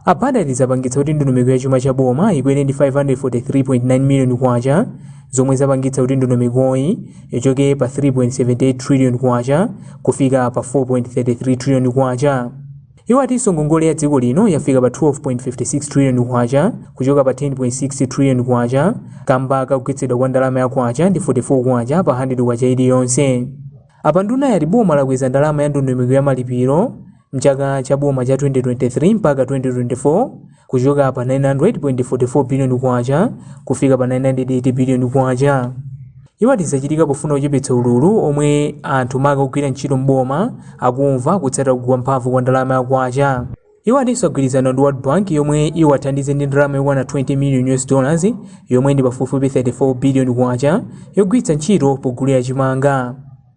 A Banda ati zapangitsa kuti ndondomeko ya chuma cha boma ikwere ndi 543.9 biliyoni kwacha zomwe zapangitsa kuti ndondomekoyi ichoke pa 3.78 trillion kwacha kufika pa 4.33 trillion kwacha. Iwo atinso ngongole ya dziko lino yafika pa 12.56 trillion kwacha kuchoka pa 10.6 trillion kwacha kamba kakugwetsedwa kwa ndalama ya kwacha ndi 44 kwacha pa 100 kwacha iliyonse. Apa ndunayi yati boma lakweza ndalama ya ndondomeko ya malipiro mchaka cha boma cha 2023 mpaka 2024 kuchoka pa 900.44 billion kwacha kufika pa 980 billion kwacha iwo ati zachitika pofuna kuchepetsa ululu omwe anthu maka ogwira ntchito m'boma akumva kutsata kugwa mphamvu kwa ndalama ya kwacha iwo atinso agwirizana ndi world bank yomwe iwathandize ndi ndalama yokwana 20 million us dollars yomwe ndi pafupifupi 34 billion kwacha yogwiritsa ntchito pogulira chimanga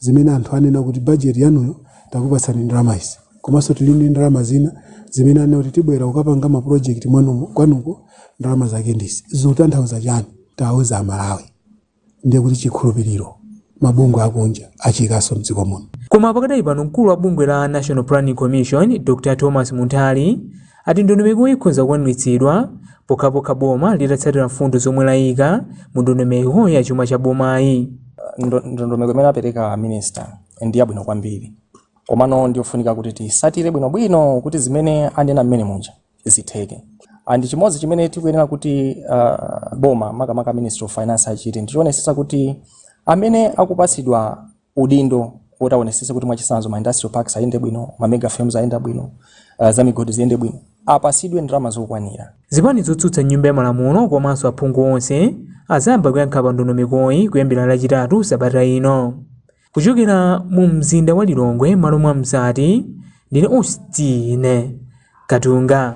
zimene anthu anena kuti budget yanuyo takupatsani ndalama izi komanso tili ndi ndalama zina zimene anena kuti tibwera kukapanga ma project mwanumo kwanuko ndalama zake ndizi zikutanthauza chani tawauza amalawi ndiye kuti chikhulupiriro mabungwe akunja achiikanso mdziko muno Koma pakadali pano mkulu wa bungwe la National Planning Commission, Dr. Thomas Munthali, ati ndondomekoyi ikhoza kukwaniritsidwa pokhapokha boma litatsatira mfundo zomwe layika mu ndondomeko ya chuma cha bomayi. Ndo- ndondomeko imene apereka a minister ndi yabwino kwambiri komano ndiyofunika kuti tisatire bwinobwino kuti zimene anena mmene muja zitheke and chimodzi chimene tikuyenera kuti uh, boma makamaka a ministry of finance achite ndichionesesa kuti amene akupatsidwa udindo woti awonesese kuti mwachisanzo ma industrial parks ayende bwino ma mega farms ayenda bwino uh, za migodi ziyende bwino apasidwe ndalama zokwanira zipani zotsutsa m'nyumba ya malamulo komanso aphungu onse azayamba kuyankha pa ndondomekoyi kuyambira lachitatu sabata ino kuchokera mu mzinda wa lilongwe m'malo mwa mzati ndine austin katunga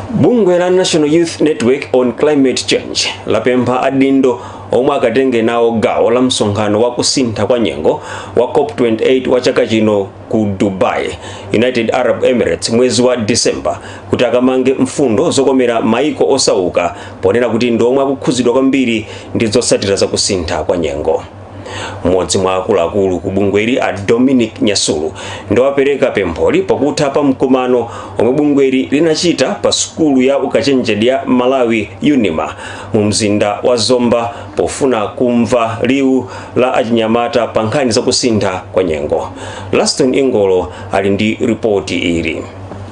bungwe la national youth network on climate change lapempha adindo omwe akatenge nawo gawo la msonkhano wa kusintha kwa nyengo wa cop28 wa chaka chino ku dubai united arab emirates mwezi wa december kuti akamange mfundo zokomera maiko osauka ponena kuti ndi omwe akukhudzidwa kwambiri ndi zotsatira za kusintha kwa nyengo mmodzi mwa akuluakulu ku bungweli a Dominic Nyasulu ndiwapereka pempholi pakutha pa mkumano omwe bungweli linachita pa sukulu ya ukachenjede ya Malawi Unima mu mzinda wa Zomba pofuna kumva liwu la achinyamata pa nkhani za kusintha kwa nyengo. Laston Ingolo ali ndi ripoti ili.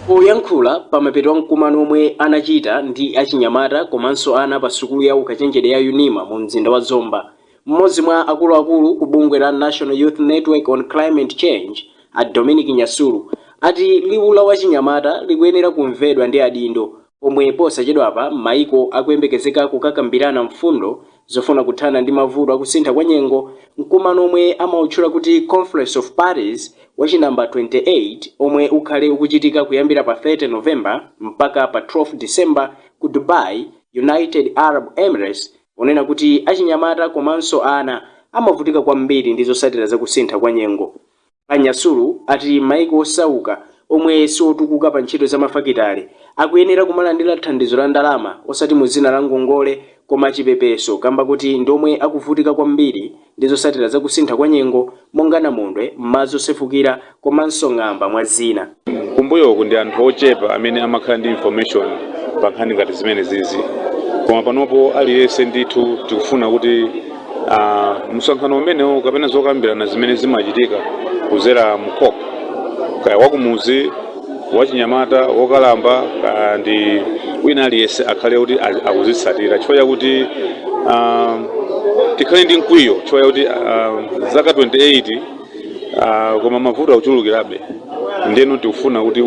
Poyankhula pamapeto a mkumano omwe anachita ndi achinyamata komanso ana pa sukulu ya ukachenjede ya Unima mu mzinda wa Zomba, M'modzi mwa akuluakulu ku bungwe la National Youth Network on Climate Change, a Dominic Nyasulu, ati liwu la achinyamata likuyenera kumvedwa ndi adindo pomwe posachedwapa maiko akuyembekezeka kukakambirana mfundo zofuna kuthana ndi mavuto akusintha kwa nyengo mu mkumano omwe amautchula kuti Conference of Parties wa chi number 28 omwe ukhale ukuchitika kuyambira pa 30 November mpaka pa 12 December ku Dubai, United Arab Emirates. onena kuti achinyamata komanso ana amavutika kwambiri ndi zotsatira za kusintha kwa nyengo. A Nyasulu ati maiko osauka omwe siotukuka pa ntchito za mafakitale akuyenera kumalandira thandizo la ndalama osati mu dzina la ngongole koma chipepeso kamba koti ndi omwe akuvutika kwambiri ndi zotsatira za kusintha kwa nyengo monga namondwe, madzi osefukira komanso ng'amba mwa zina. Kumbuyoku ndi anthu ochepa amene amakhala ndi information pa nkhani ngati zimenezizi koma panopo aliyense ndithu tikufuna kuti ah, msonkhano umenewu kapena zokambirana zimene zimachitika kudzera mu COP kaya wakumuzi wachinyamata, wokalamba kaya ndi wina aliyense akhale kuti a- akuzitsatira chifukwa chakuti ah, tikhale ndi mkwiyo chifukwa chakuti ah, zaka 28 ah, koma mavuto akuchulukirabe ndeno tikufuna kuti